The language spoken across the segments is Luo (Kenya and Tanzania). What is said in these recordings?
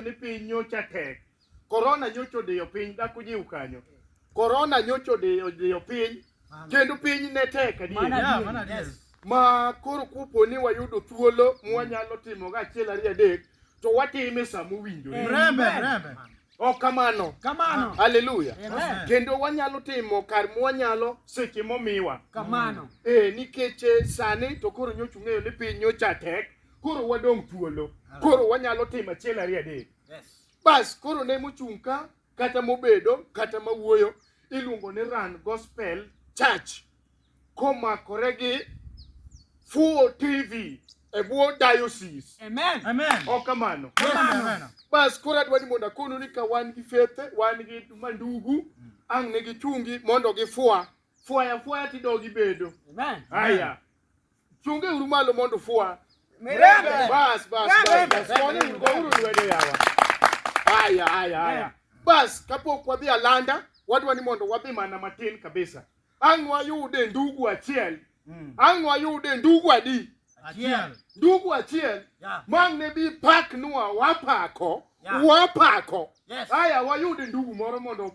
ni piny nyocha tek. Korona nyocha odiyo piny dhako jiw kanyo. Korona nyocha odiyo odiyo piny kendo piny ne tek adier. Mana Yeah, adier. mana adier. Yes. ma koro kupo ni wayudo thuolo mwanyalo timo ga achiel ariyo adek to watime sama owinjore Mrembe, Amen. mrembe. ok kamano Kamano. haleluya Amen. kendo wanyalo timo kar mwanyalo seche momiwa Kamano. e nikech eh, sani to koro nyocha ung'eyo ni piny nyocha tek koro wadong' thuolo, koro wanyalo timo achiel ariyo adek. Bas koro ne mochung' ka kata mobedo kata mawuoyo iluongo ni Run Gospel Church komakore gi Fuo TV e bwo diocese. Amen. Amen. Ok kamano. Kamano. Bas koro adwa ni mondo akonu ni ka wan gi fethe, wan gi mandugu, ang' ne gichungi mondo gifwa fwaya fwaya tidog ibedo. Amen. Haya. Chunge uru malo mondo fwa. Mirembe. Bas bas bas. Kone uru go uru lwedo yawa. Haya haya haya. Bas kapok wadhi alanda wadwa ni mondo wadhi mana matin kabisa. Ang' wayude ndugu achiel. Mm. Ang' wayude ndugu adi. Achiel. Ndugu achiel. Yeah. Mang' ne bi pak nua wapako. Yeah. Wapako. Yes. Haya wayude ndugu moro mondo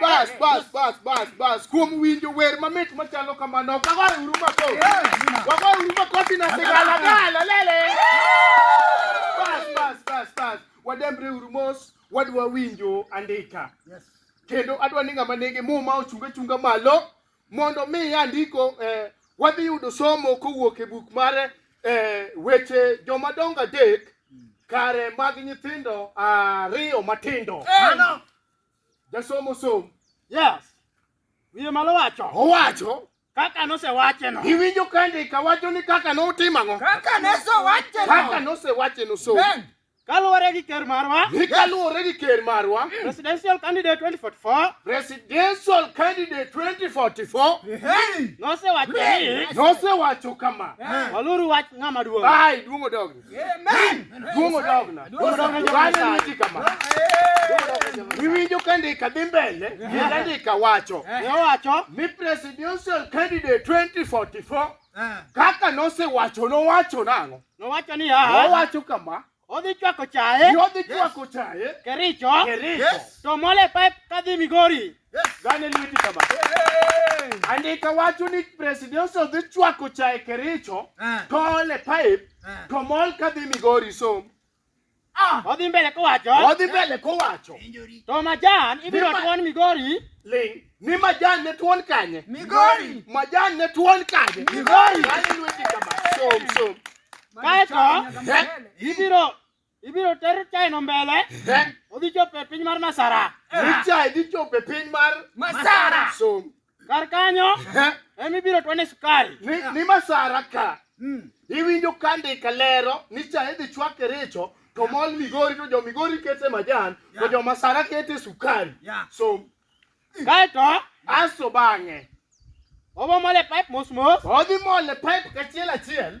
Bas, bas, bas, bas, bas. Kuom winjo wer mamit machalo kamano, wagoyo uru makofi. Wagoyo uru makofi na sigala gala lele. Bas, bas, bas, bas. Wadembre uru mos, wadwa winjo andika. Kendo adwa ni ng'ama nigi muma ochunga chunga malo mondo mi andiko eh, wadhi yudo somo kowuok e buk mar eh, weche jomadongo adek kare mag nyithindo ariyo matindo Mano. jasomo som Yes. Wiye malo wacho. owacho Kaka nosewacheno. iwinjo kandika wacho ni kaka notimang'o Kaka ne so wacheno. kaka nosewacheno som Amen. Kaluwore gi ker marwa, ni kaluwore gi ker marwa presidential candidate 2044 presidential candidate 2044 nosewacho ni nosewacho kama waluru wach ng'ama duong'. ai duong' odogna duong' odogna Duong' odogna. Bang'e niwinji kama iwinjo ka ndika dhi mbele kendo ndika wacho Nowacho ni presidential candidate 2044 Eh. Kaka nosewacho nowacho nang'o? Nowacho ni ya. Nowacho kama. Odhi chwako chae. Ni odhi chwako chae. Kericho. Kericho. To mole pipe kadhi Migori. Gane lweti kama. Andika wacho ni president odhi chwako chae Kericho. Eh. To ole pipe. Eh. To mol kadhi Migori som. Ah. Odhi mbele kowacho. Odhi mbele kowacho. To majan ibiro tuon Migori. Ling. Ni majan ne tuon kanye? Migori. Majan ne tuon kanye? Migori. Som som. Kaeto eh? ibiro ibiro ter chaino mbele. Eh? Odhi chopo e piny mar Masara. Ni chai dhi chopo e piny mar Masara. Som. Kar kanyo Eh, ema ibiro twane sukari. ni, ni masara ka Mm. iwinjo ka ndika lero ni cha idhi chwake richo to mol migori to jo migori kete majan to jo masara kete sukari Yeah. so Kae to aso bang'e obo mole pipe mos mos. odhi mole pipe kachiel achiel